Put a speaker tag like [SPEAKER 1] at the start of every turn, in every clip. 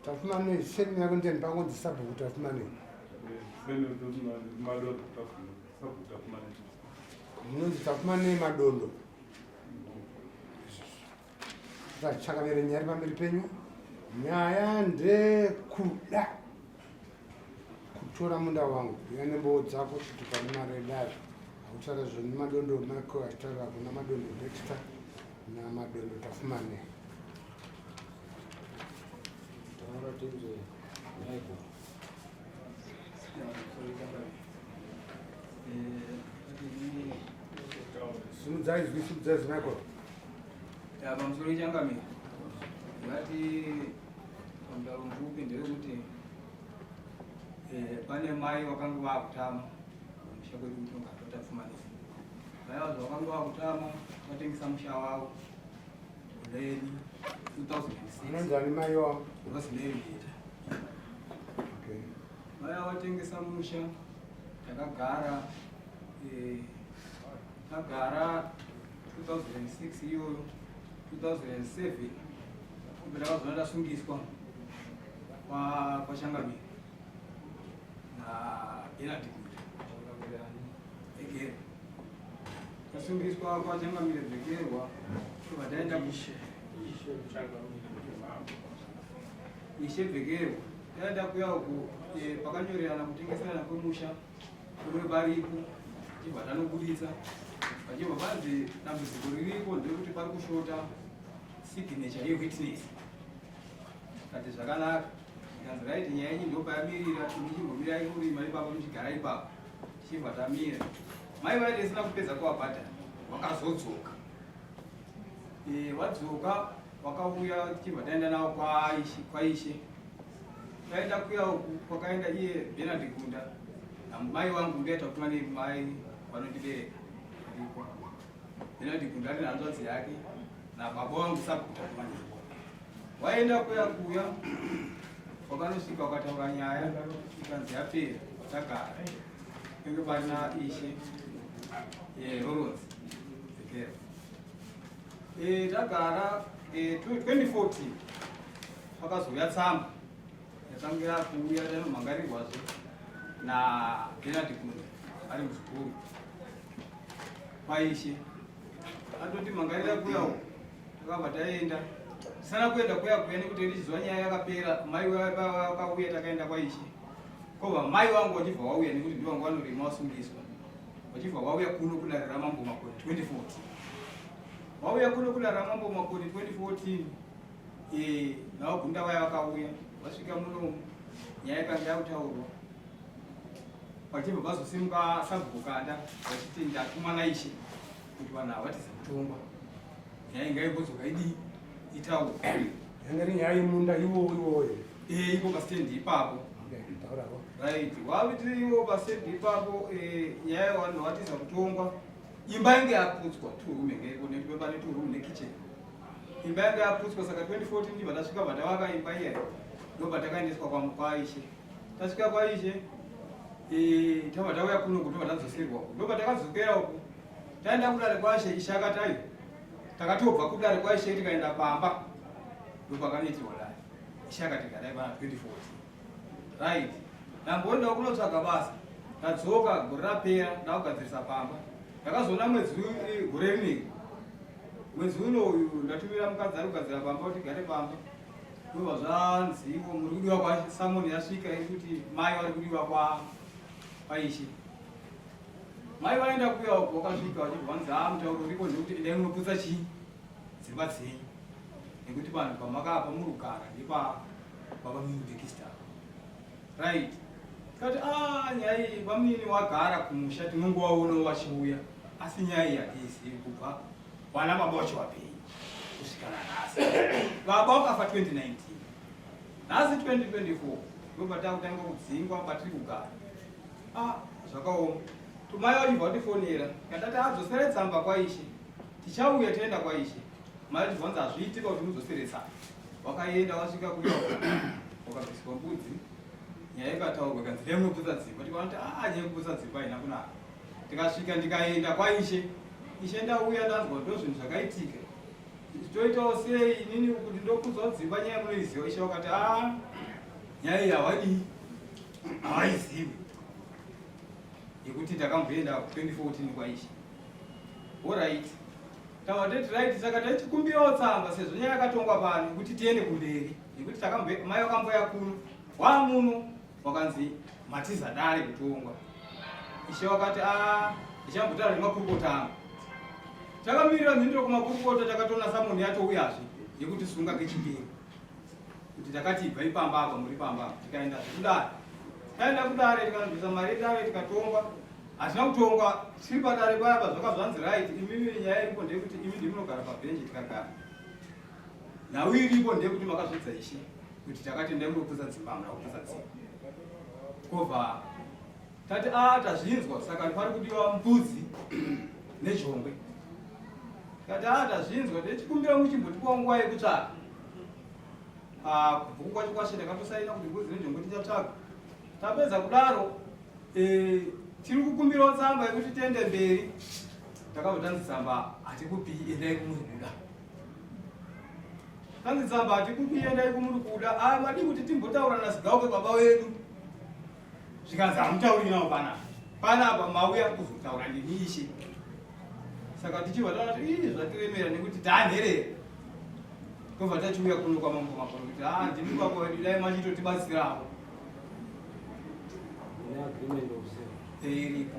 [SPEAKER 1] Tafumane same yako ndiani pangonzi sabhuku tafumane. Same madondo
[SPEAKER 2] tafumane sabhuku tafumane. Munonzi
[SPEAKER 1] tafumane madondo. Tachakavere nyari pamberi penyu. Nyaya ndekuda. kutora munda wangu uya nembowo dzako kuti pane mari edare hautaura zvoni madondo mako achitaura kuna madondo dexta namadondo tafumane taura tinzwe maiko simudzai zwi simudzai zwi maiko pamusoro
[SPEAKER 3] ichangamira ngati Mutauro mvupi ndewekuti eh, pane mai vakanga vakutama musha kwedu kuti ungatota pfumanisa mai vacho vakanga vakutama vatengisa musha wavo uleni 2006 mai
[SPEAKER 1] wavo vasinevita vaya
[SPEAKER 3] vatengesa musha takagara eh, tagara 2006 iyoyo 2007 kubira vazoona ndasungiswa kwashangamiri naenadikuti again tasungiswa kwachangamire bhekerwa tobva taenda kushe ishe bhekerwa taenda kuya uku eh, pakanyorerana kutengeserana kwemusha Kune varipo chibva tanobuditsa vachibva vanzi dambudziko ririko nderekuti pari kushota signature yewitness kati zvakanaka ikanzi raiti nyaya yenyu ndopayamirira ini chimbomirai kurima ipapo muchigara ipapo tichibva tamira mai vaiti isina kupedza kuwabhadhara wakazodzoka Eh, wadzoka wakauya tichibva taenda nawo kwaishe kwaishe taenda kuya uku kwakaenda iye benard gunda namai wangu ndiaita kutuma nemai vanondibereka ndiko benard gunda ane hanzvadzi yake nababa wangu sakuta kumana waenda kuya kuya wakanosvika wakataura nyaya ikanzi yapera watagara Ngekubana ishe eh Lawrence Tekera eh tagara eh 2014 pakazouya tsamba yatangira kuuya yanomhangarirwazve na Bernard Kunde ari muzukuru kwaishe atoti mhangarira kuya uko takabva taenda tisana kuenda kuya kuya nekuti ndichiziva nyaya yakapera mai vakauya takaenda kwaishe Ko vamai vangu vachibva vauya nekuti ndivanga vanorima vasungiswa vachibva vauya kuno kudarira mambo makoni 2014 vauya kuno kudarira mambo makoni 2014 eh, navagunda vaya vakauya vasvika muno nyaya yakanga yakutaurwa vachibva vazosimuka sabhukanda vachiti ndatumana ishe kuti vanhu havatiza kutongwa nyaya ingaigozokaidiyi itawo yanga iri
[SPEAKER 1] nyaya yemunda iwowo iwoyo eh ipo pastendi
[SPEAKER 3] ipapo right wavitiri iwo pastendi ipapo eh, nyaya yavanhu vatiza kutongwa imba yange yaputswa two room yange iko nekuti baba ne two room ne kitchen imba yange yaputswa saka 2014 ndibva tasvika bvatavaka imba iya ndobva takaendeswa kwaishe tasvika kwaishe eh, tava tauya kuno kutobva tadzosirwa ndobva takadzokera uku taenda kudare kwaishe ishakatayo takatobva kudare kwaishe tikaenda pamba ndopakanoitirwa dare ishe akati garai pana 24 right ndamboenda kunotsvaga basa ndadzoka gore rapera ndakugadzirisa pamba ndakazoona mwedzi gore rinei mwedzi uno uyu ndatumira mukadzi ari kugadzira pamba kuti gare pamba ndova zvanziwo muri kudiwa kwasamoni yasvika iri kuti mai vari kudiwa kwaishe Mai vaenda kuya uko wakasvika vachibva vanzi haa mutauro uriko ndekuti endai munoputsa chii dzimba dzenyu nekuti vanhu pamakapa muri kugara nepa baba mudekista right tikati a ah, nyaya iyi bamunini wagara kumusha tinongovaona vachiuya asi nyaya iyi hatiizivi kubva vana baba vacho vapei kusvika nanhasi baba wakafa 2019 nhasi 2024 ndobva takutanga kudzingwa patiri kugara Ah, zvakaoma. Tumai Oliver watifonera. Katati adzosere tsamba kwaishe. Tichauya toenda kwaishe. Mai Oliver wanzi hazviitika kuti mudzosere tsamba. Wakaenda wasvika kuya wakabviswa mbudzi. Nyaya ikataurwa kanzi reyi muputsa dzimba. Tikaona kuti ah nyaya kuputsa dzimba haina kunaka. Tikasvika ndikaenda kwaishe. Ishe ndauya ndanzwa ndo zvinhu zvakaitika. Toitawo sei inini kuti ndokudzawo dzimba nyaya munoiziva. Ishe wakati ah nyaya iyi hawadii. haizivi yekuti takamboenda 2014 kwaisha orit tavateti right saka tachikumbirawo tsamba sezvo nyaya yakatongwa pano yekuti tiende kumberi yekuti mai vakamboya kuno wamuno wakanzi matiza dare kutongwa ishe wakati ah, ichambotaura nemakurukota angu takamirira mhinduro kumakurukota takatonasa munhu yatouyazve yekuti sunga kechipiri kuti takati ibva ipamba apa muri pamba apa tikaenda zvekudare taenda kudare tikanzwisa mari yedare tikatongwa hazvina kutongwa tiri padare paya pa zvaka zvanzi right imimi nyaya iripo ndeyekuti imi ndimunogara pabhenji tikagara nhau iripo ndeyekuti makazvidza ishe kuti takati ndai murikuputsa dzimba hamuna kuputsa dzimba kobva Tati a ah, tazvinzwa saka pari kudiwa mbudzi nejongwe. Tati a ah, tazvinzwa techikumbira muchimbotipawo nguva yekutsvaka. Ah, kubvuku kwacho kwashe takatosaina kuti mbudzi nejongwe tichatsvaga. Tapedza kudaro eh, tiri kukumbirawo tsamba yekuti tende mberi. Takabva tanzi tsamba hatikupi endai kumuri kuda. Tanzi tsamba hatikupi endai kumuri kuda. Ah, madii kuti timbotaura nasigauke baba wedu. zvikanzi hamutauri nawo panapa panapa mauya kuzotaura nemiishe saka tichibva taona kuti ii zvatiremera nekuti tanherera tobva tachiuya kuno kwamambo makoro kuti a ah, ndimi kwako vedu dai machitotibatsirawo iriko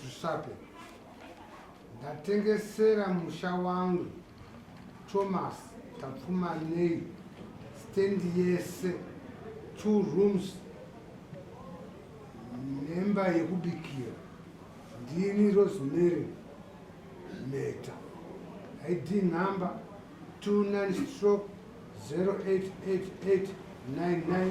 [SPEAKER 1] zvisape ndatengesera musha wangu thomas tapfumanei stendi yese two rooms nemba yekubikira ndini rosemary meta id number 29 stroke 088899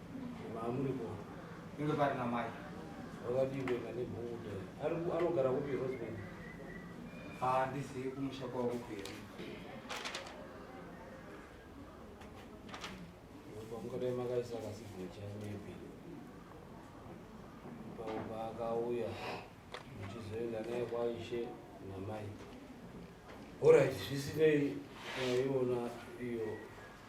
[SPEAKER 3] Mamuriko.
[SPEAKER 4] Inge
[SPEAKER 3] pari na mai. Wakadii kuenda
[SPEAKER 4] ne bhuda. Ari anogara kupi Rosemary? Ah,
[SPEAKER 3] this is kumusha kwa kupi.
[SPEAKER 4] Ngoba makaisa kasi bhuda maybe. Baba akauya. Ndichizoenda naye kwa Ishe na mai. All right, zvisinei iwona iyo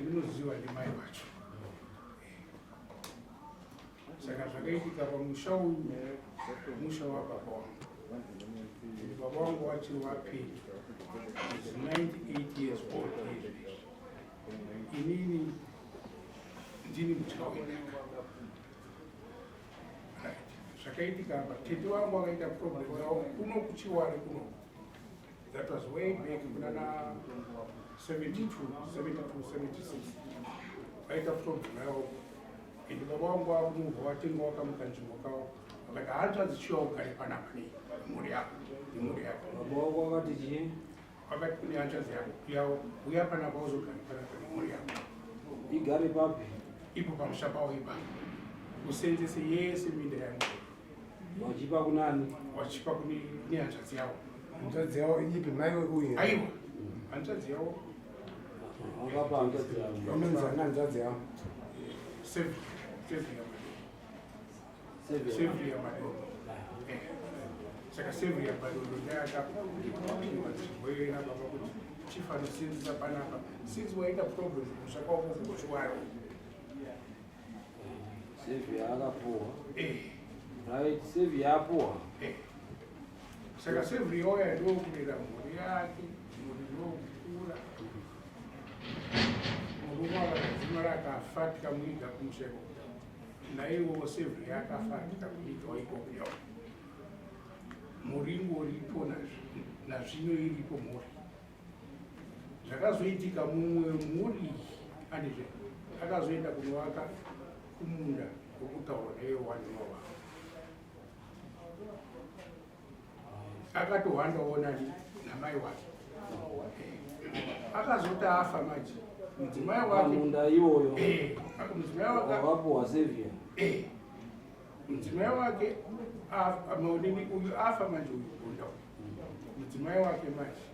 [SPEAKER 1] ndinoziva ndimai vacho saka zvakaitika pamusha uyu musha wababa wangu baba wangu wachiri wapedyo is 98 years old inini ndini mutya wenaka zvakaitika apa tete wangu akaita problem zao kuno kuchiwari kunoku That was way back kunana 72, 72, 76. Vaita kutobvunawo. Ende baba wangu wakumubva watenga wakamuka nzvimbo kawo. Vakati hanzvadzi chiwa ugare panapa nei mhuri yako nemhuri yako. Baba
[SPEAKER 4] wako wakati chii? Vakati kune
[SPEAKER 1] hanzvadzi yako yawo uya panapa uzogare panapa nemhuri yako. Igare
[SPEAKER 4] papi? Ipo pamusha
[SPEAKER 1] pawo ipapo. Usenzese yese minda yangu. Wachipa
[SPEAKER 4] kunani? Wachipa kune
[SPEAKER 1] kune hanzvadzi yawo. Hanzvadzi yawo ipi mai uye? Aiwa. Hanzvadzi yawo. Wakapa
[SPEAKER 4] hanzvadzi
[SPEAKER 1] yawo. Unonzi ana hanzvadzi yawo. Save save ya mai. Save save ya mai. Eh. Saka save ya mai ndo ndaka. Wewe na baba kuti chifano sinzi panapa. Sinzi waita problem zvakawo kukuchwara.
[SPEAKER 4] Save yakapuwa. Eh. Right, save yapuwa. Eh.
[SPEAKER 1] Saka save yoya ndokurera mhuri yake, mhuri ndokukura. Murume akadzima rakafa tikamuiga kumuseko. Naiwo save yakafa tikamuiga ikoko yawo. Mhuri ingoripo nazvino iripo mhuri. zvakazoitika mumwe mhuri andizve akazoenda kunovaka kumunda wokutaura neyewandiwa wavo akatohwanda onani namai wake akazoti afa manje mudzimai wakeunda iwoyo
[SPEAKER 4] eh, mudzimai
[SPEAKER 1] wake wakapuwa sevia eh, Mudzimai wake maonini uyu afa manje uyu bonda uyu. Mudzimai wake manje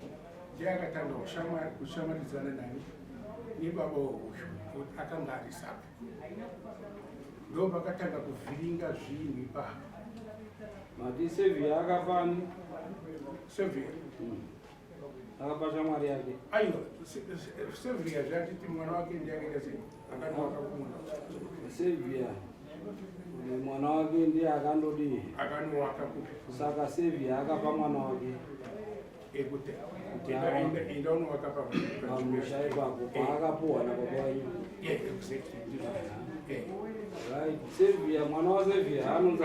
[SPEAKER 1] ndiye akatanga kushamwari kushamwaridzana nani nebaba weuyu akanga ari sapi. Ndo pakatanga kuvhiringa zvinhu ipapo.
[SPEAKER 4] Mati Sevia akafani?
[SPEAKER 1] Sevia. Mm.
[SPEAKER 4] akapa shamwari yake aiwa sevia
[SPEAKER 1] zvatiti mwana wake ndiye akaita sei
[SPEAKER 4] akanoaka kumunda sevia mwana wake ndiye akandodii akanoaka
[SPEAKER 1] kupi saka sevia
[SPEAKER 4] akapa mwana wake ekuti
[SPEAKER 1] enda unovaka pamusha
[SPEAKER 4] ipapo paakapuhwa nababavanyu right sevia mwana wasevia anonzi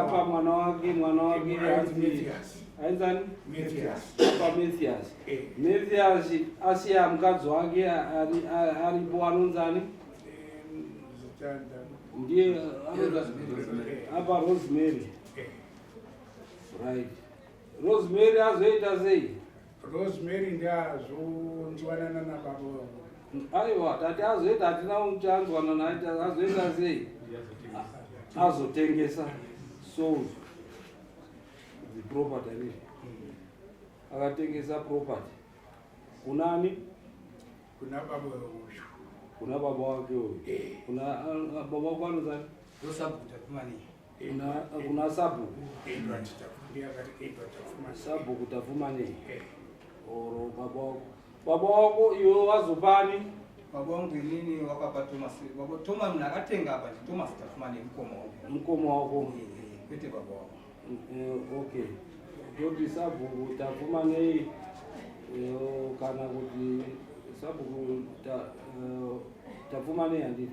[SPEAKER 4] apa mwana wake mwana wake aizani pamethias asiya mukadzi wake aripo anonzani ndiye apa rosemary right rosemary azoita sei Rosemary
[SPEAKER 1] ndiazonzwanana nababa vangu. Aiwa
[SPEAKER 4] tati azoita hatina kuti anzwana naye azoita sei? Azotengesa sold the property ne. Akatengesa property. Kunani?
[SPEAKER 1] Kuna baba vangu. Kuna baba
[SPEAKER 4] wake huyo. Eh. Kuna ah, ah, baba wako anozani? Rosabuta kumani. kuna sabhuku sabhuku tafumanei eh. or baba wako baba wako iwe wazopani baba wangu
[SPEAKER 3] inini wakapa thomas baba thomas mna akatenga apa ndi thomas tafumane mkoma wako
[SPEAKER 4] mkoma wako eh, eh, kwete baba
[SPEAKER 3] wako okay
[SPEAKER 4] ndoti sabhuku tafumanei kana kuti sabhuku tafumanei handiti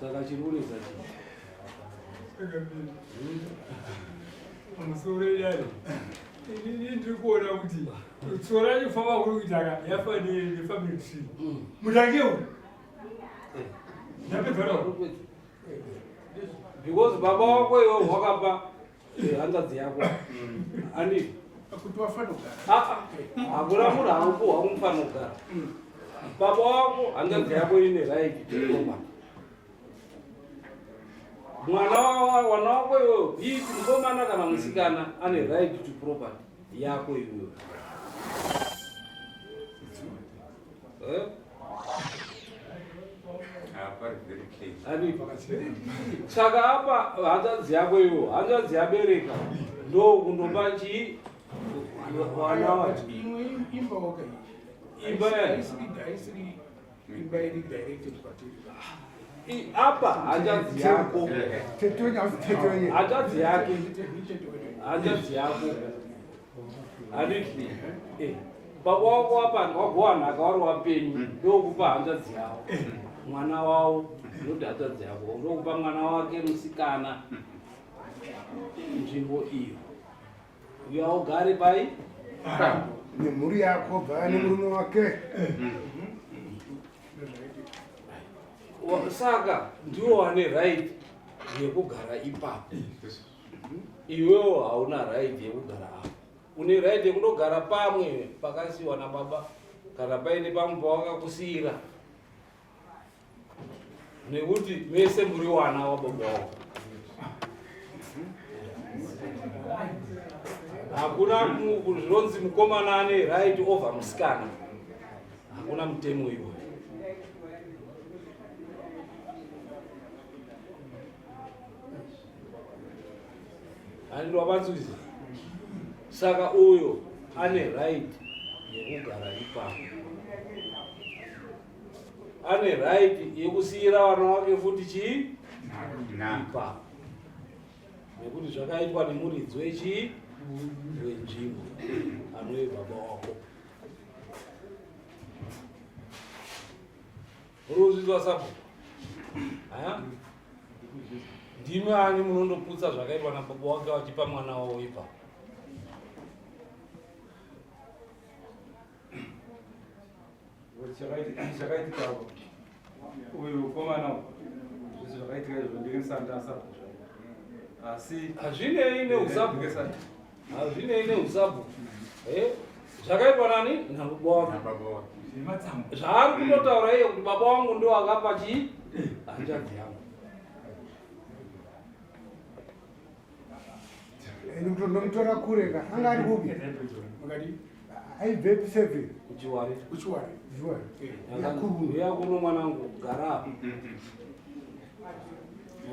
[SPEAKER 4] Saka chiri kunetsa chii?
[SPEAKER 5] Pamusoro idari inini ndiri kuona kuti tsoro yacho famba kuri kuita ka yafa nefamily tree mm. mutange uyu eh. ndapedzana
[SPEAKER 4] because baba wako iwo wakapa Eh, hanzvadzi yako mm. andii kuti
[SPEAKER 1] wafanogara hakuna
[SPEAKER 4] munhu auko waumufanogara mm. baba wako hanzvadzi yako ine raiti chikoma mwana wana wako iwoyo bii mukomana kana musikana ane right to property yako iwoyo
[SPEAKER 6] Eh?
[SPEAKER 4] saka apa hanzvadzi yako ivo hanzvadzi yabereka ndo kundopa chii vana vacho
[SPEAKER 1] imba
[SPEAKER 4] apa hanzvadzi yako hanzvadzi yake hanzvadzi yako handiti eh, baba wako wapanga wagowa nhaka wari wapenyu hmm. ndokupa hanzvadzi yavo eh. mwana wavo noti hanzvadzi yavo ndokupa mwana wake musikana hmm. nzvimbo iyo uya ugare pai
[SPEAKER 6] nemhuri yako bvaya nemurume wake
[SPEAKER 4] hmm. saka ndiwo wane right yekugara ipapo iwewo hauna right yekugara apo une right yekundogara pamwe pakasiwa nababa kana paine pamwe pawakakusiyira nekuti mese muri wana wababa wavo hakuna zvinonzi mukomana ane right over musikana hakuna mutemo iwoyo and wabatswizi saka uyo ane right yekugara ipapo ane right yekusiyira vana wake futi chii ipapo nekuti zvakaitwa nemuridzi wechii wenzvimbo anoye baba wako Munozvinzwa sabhuku? Ndimi ani munondoputsa zvakaitwa nababa wake vachipa mwana wavo ipa. Zvakaitika
[SPEAKER 2] uyu mukomana zvese zvakaitika izvo ndinge ndisati ndasabhuku asi hazvinei
[SPEAKER 4] neusabhuku Hazvinei neusabhu. Eh? Zvakaipa nani? Nababa wangu. Nababa wangu. Zvaari kutotaura iye kuti baba wangu ndo akapa chii? Hanzvadzi
[SPEAKER 6] yangu. Ndomutora kure ka. Anga ari kupi? Makadii?
[SPEAKER 1] aibvepi
[SPEAKER 6] seven kuchiwari kuchiwari
[SPEAKER 4] kuchiwari
[SPEAKER 1] yakuru yakuru
[SPEAKER 4] mwana wangu gara apa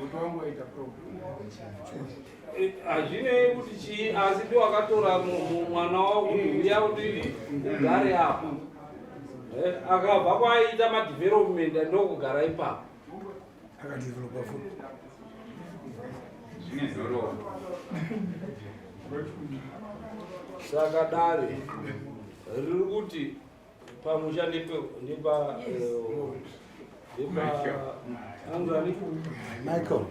[SPEAKER 1] moto wangu waita problem hazvinei
[SPEAKER 4] kuti chii asi ndi wakatora mwana wako uya kuti ugare apa akabva kwaita madevelopment ndokugara ipapo akadevelopa
[SPEAKER 6] futi
[SPEAKER 4] zvine zororo saka dare riri kuti pamusha ndepaanzanimaicel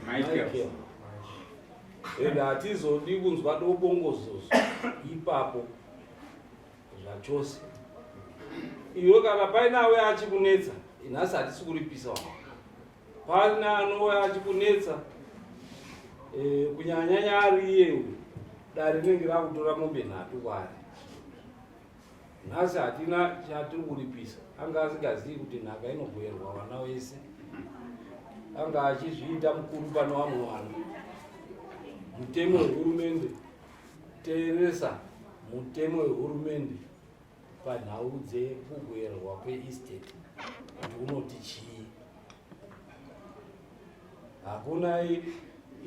[SPEAKER 4] and hatizodi kunzwa dobongozozo ipapo zvachose iwe kana paine auye achikunetsa nhasi hatisi kuripisa wa paine anouye achikunetsa eh, kunyanyanya ari iye uyu dare rinenge rakutora mombe nhatu kwari nhasi hatina chatiri kuripisa anga asingazivi kuti nhaka inogoerwa vana wese anga achizviita mukuru pane vamwe vanhu mutemo wehurumende Teeresa mutemo wehurumende panhau dzekugwerwa kweestate kuti unoti chii. Hakuna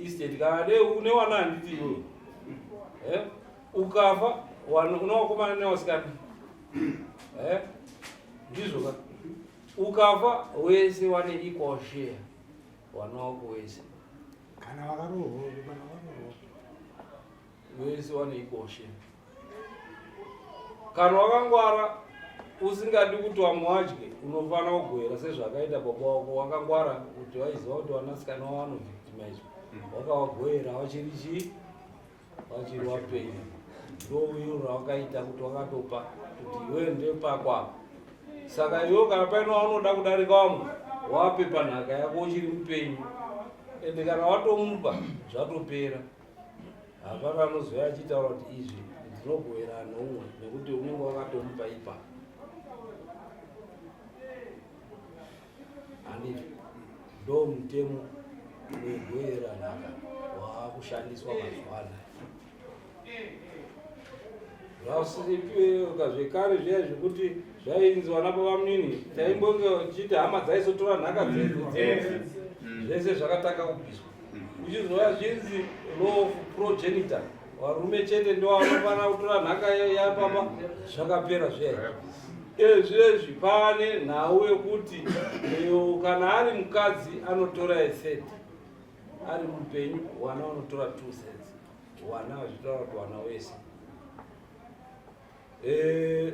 [SPEAKER 4] estate kana dei une wana handiti iwe eh? ukafa une wakomana newasikana eh? ndizvo ka ukafa wese wane equal share wana wako wese kana
[SPEAKER 6] vakarohwa
[SPEAKER 4] kana vakarohwa vese vanoikoshe kana wakangwara usingadi kuti vamwe wadye unofanira kugoera sezvakaita baba wako wakangwara kuti waiziva kuti vanasikana wavanovictimizwa mm. wakavagoera vachiri chii wachiri wapenyu ndouyu rawakaita kuti wakatopa kuti iwe ndepakwa saka iwe kana paino waunoda kudarika wamwe wape panhaka yako uchiri mupenyu ende kana watomupa zvatopera hapana anozouya achitaura kuti izvi ndinogoverana noumwe nekuti unenge wakatomupa ipapo handiti ndo mutemo wegwera nhaka waakushandiswa mazuva anaya zvasipiweka zvekare zviya zvekuti zvainzi vana pavamunini taimbonge vachiti hama dzaisotora nhaka dzedu zvese zvakatanga kubviswa kuchizova zvinzi law of progenitor varume chete ndovanofanira kutora nhaka yapapa zvakapera zviya ezvezvi pane nhau yekuti iyo kana ari mukadzi anotora eset ari mupenyu wana unotora two sets wana vachitaura kuti wana wese eh,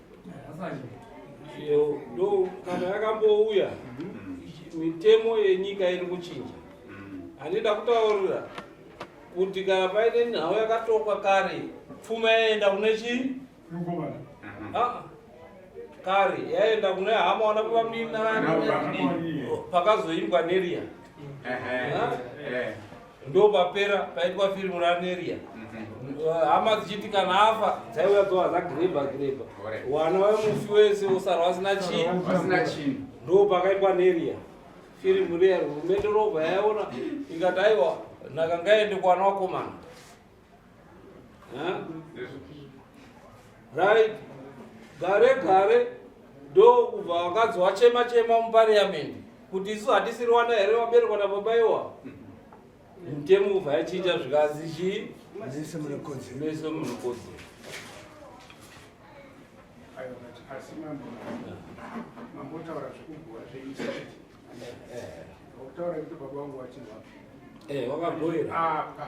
[SPEAKER 4] ndo kana yakambouya mitemo yenyika iri kuchinja handida kutaurira kuti kana paine nhau yakatokwa kare pfuma yaenda kune chii ah, kare yaenda kune hama wana kuvaminarani pakazoimbwa neriya ndopapera paitwa firimu raneria mhm. eh, hama dzichiti kana afa dzaiuya dzowa zagireba gireba wana wemufi wese usarwa asina chii ndo pakaitwa neria firimu riya hurumende robva yaiona ikati aiwa nhaka ngaende kuwana wakomana right gare gare ndo kubva vakadzi wachema chema mupariamendi kuti isu hatisiri wana here vaberekwa nababa iwa mutemo kubva yachiita zvikanzi chii mese munokodzera
[SPEAKER 6] asi mambo mambotaura
[SPEAKER 4] zvekugura zveinsiti
[SPEAKER 1] wakutaura kuti baba wangu wachinwa eh, wakagoera apa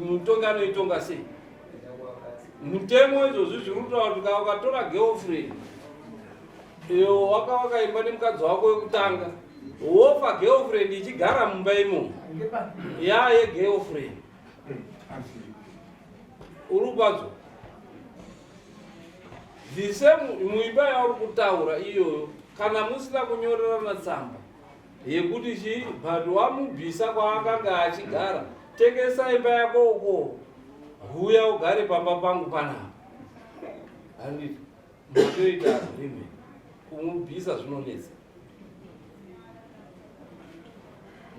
[SPEAKER 4] mutongi anoitonga sei mutemo izvozvi zviri kutaura kuti kaa ukatora girlfriend iyo wakavaka imba nemukadzi wako wekutanga wofa girlfriend ichigara mumba imomo ya yegirlfriend uri kubadzo the same muimba yauri kutaura iyoyo kana musina kunyorerana tsamba yekuti chii but wamubvisa kwaakanga achigara tengesa imba yako uko huya ugare pamba pangu panapa handiti matoita agreement kumubvisa zvinonetsa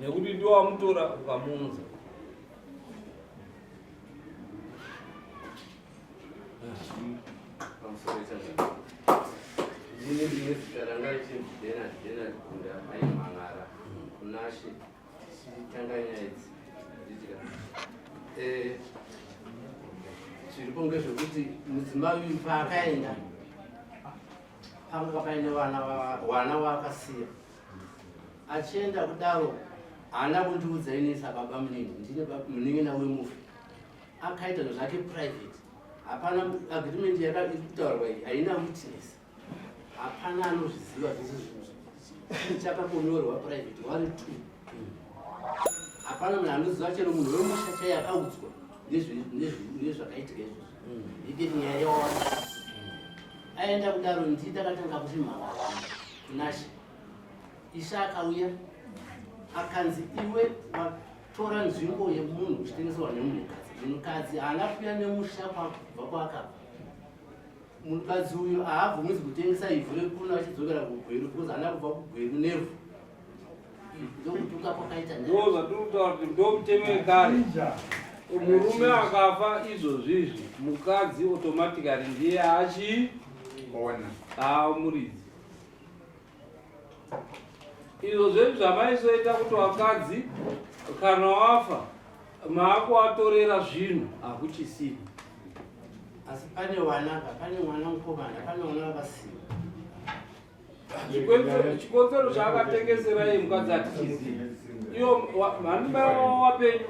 [SPEAKER 4] nekuti ndiwo wamutora ukamuunza
[SPEAKER 7] zviripo ngezvekuti mudzimai uyu paakaenda panga pakaine vana waakasiya achienda kudaro haana kundiudza inisa baba munini ndine munin'ina wemufi akaita zvake private hapana agreement yakutaurwa iyi haina witness hapana anozviziva zvese zvinhu chakakonyorwa private wari t hapana munhu anoziva chero munhu wemusha chai akaudzwa nezvakaitika izvozvo mm. iketi nyaya yawana aenda kudaro ndi takatanga kuzvimhaka kunashe isha akauya akanzi iwe tora nzvimbo yemunhu uchitengeserwa nemunhukadzi munhukadzi haana kuuya nemusha kwakubva kwakabva munhukadzi uyu haabvumizi kutengesa ivhu rekuno achidzokera kugweru because haana kubva kugweru nevhu ndokutuka kwakaita ndozvatirikutaura
[SPEAKER 4] kuti ndomutemo wekare murume akafa izvozvizvi mukadzi automatically ndiye achiona aamuridzi izvo zvedu zvamaizoita kuti vakadzi kana wafa maakuvatorera zvinhu hakuchisini
[SPEAKER 7] asi pane vana pane mwana mukomana pane vana vakasina
[SPEAKER 4] chikotsero chaakatengeserai mukadzi atichiziva iyo mhani mai wavo wapenyu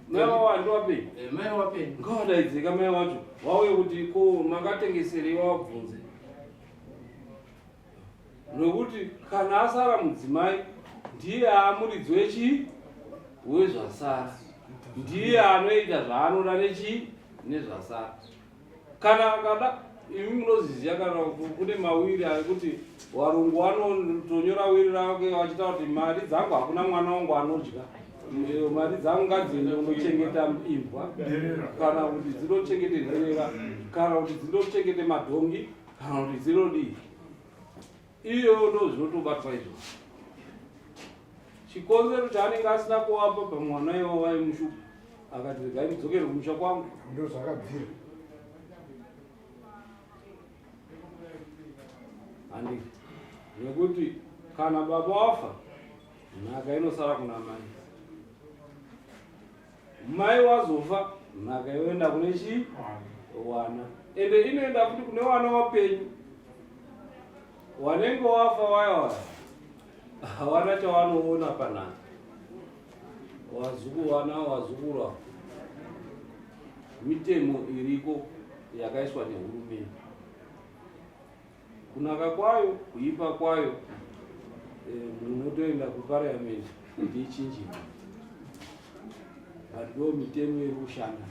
[SPEAKER 4] mai wavo handi wapenyu eh, mai wapenyu
[SPEAKER 7] ngawadaidzeka mai wacho
[SPEAKER 4] wauye kuti ko makatengeserei wavabvunze nokuti kana asara mudzimai ndiye amuridzi wechii wezvasara ndiye anoita zvaanoda nechii nezvasara kana akada imi munoziziva kana kune mawiri ekuti varungu vanotonyora wiri rake vachita kuti mari dzangu hakuna mwana wangu anodya Ndero mari dzangu ngadziende kunochengeta imbwa kana kuti dzinochengete nherera kana kuti dzinochengete madhongi kana kuti dzinodii iyo ndo zvinotobatwa izvo chikonzero chaanenge asina kuwapa pamwana iwo vaimushupa akati regai ndidzokere kumusha kwangu ndo zvakabvira handii nekuti kana baba wafa Nhaka inosara kuna mai. Mai wazofa nhaka yoenda kune chii? Wana. Ende inoenda futi kune wana wapenyu. Wanenge wafa waya waya. Hawana chawanoona panhaka. Wazukuru wana wazukuru ava. Mitemo iriko yakaiswa nehurumende. Kunaka kwayo, kuipa kwayo, eh, munotoenda kuparliament kuti ichinjirwe. But ndo mitemo iri kushanda.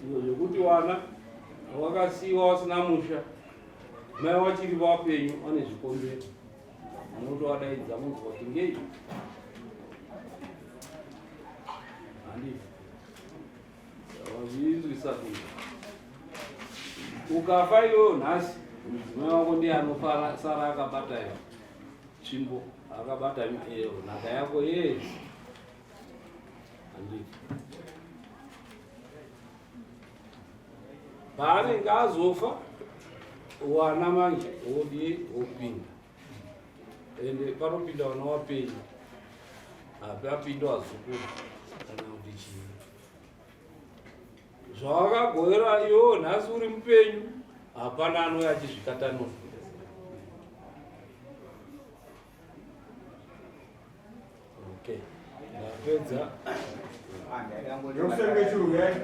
[SPEAKER 4] Izvo zvekuti wana wakasiiwa wasina musha, mai wachiri vapenyu vane zvikonzero. Munotowadaidza munzwa kuti ngei? Handiti. Wazvinzwisa kuti ukafa iwewe nhasi mudzimai wako ndiye anofara sara akabata yo tsvimbo akabata iyo nhaka yako yes handii paanenge azofa wana manje wodii wopinda ende panopinda vana wapenyu hapi apindo azukuru kana kuti chii zvawakagoera iyo nhasi uri mupenyu hapana anouya achizvikatanoa Okay. Napedza. Yokusenge churu yayi.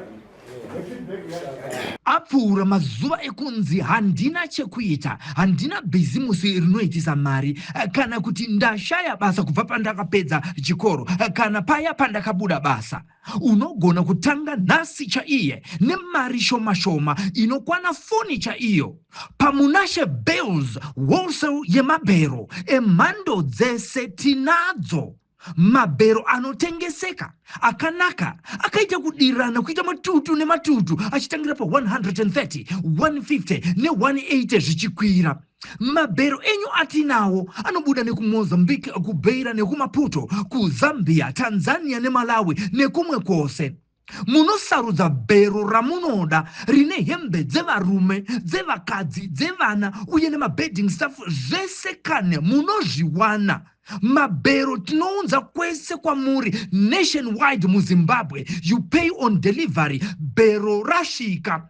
[SPEAKER 8] apfuura mazuva ekunzi handina chekuita handina bhizimusi rinoitisa mari eh, kana kuti ndashaya basa kubva pandakapedza chikoro eh, kana paya pandakabuda basa Unogona kutanga nhasi chaiye nemari shoma shoma inokwana foni chaiyo paMunashe Bales Wholesale yemabhero emhando dzese tinadzo mabhero anotengeseka akanaka akaita kudirana kuita matutu nematutu achitangira pa 130 150 ne180 zvichikwira Mabhero enyu atinawo anobuda nekuMozambique, kuBeira nekuMaputo, kuZambia, Tanzania neMalawi nekumwe kwose. Munosarudza bhero ramunoda rine hembe dzevarume, dzevakadzi, dzevana uye nemabedding stuff zvese kane munozviwana. Mabhero tinounza kwese kwamuri nationwide muZimbabwe. You pay on delivery, bhero rasvika.